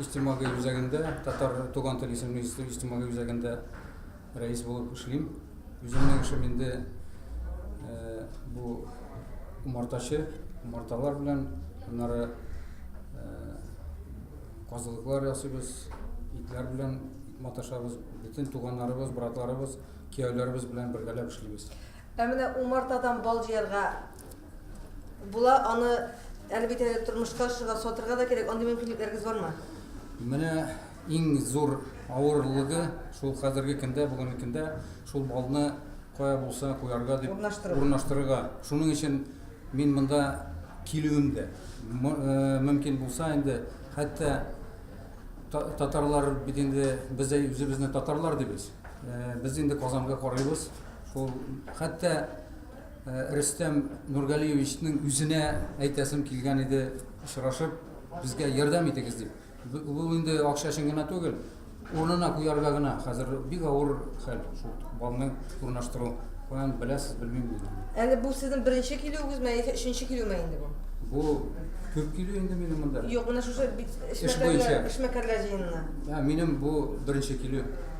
Иҗтимагый үзәгендә, Татар туган тел исемле иҗтимагый үзәгендә рәис булып эшлим. Үземнең эшем инде бу умартачы, умарталар белән, аннары казылыклар ясыйбыз, итләр белән маташабыз, бөтен туганнарыбыз, братларыбыз, кияүләребез белән бергәләп эшлибез. Ә менә умартадан бал җыярга була, аны әле бит әле тормышка ашырырга, сатырга да кирәк, андый мөмкинлекләрегез бармы? Менә иң зур авырлыгы шул хәзерге көндә, бүгенге көндә шул балны кая булса куярга дип урнаштыру. урнаштырырга. Шуның өчен мин монда килүем дә. Э, мөмкин булса инде, хәтта татарлар бит инде без үзебезне татарлар дибез. Э, без инде Казанга карыйбыз. Ул хәтта Рөстәм Нургалиевичның үзенә әйтәсем килгән иде, очрашып, безгә ярдәм итегез дип. Бу инде акча өчен генә түгел, урынына куярга гына. Хәзер бик авыр хәл шул балны урнаштыру. Каян беләсез, белмим диде. Әле бу сезнең беренче килүегезме, яисә өченче килүме инде бу? Бу күп килү инде минем монда. Юк, менә шушы эшмәкәрләр җыенына. Минем бу беренче килү.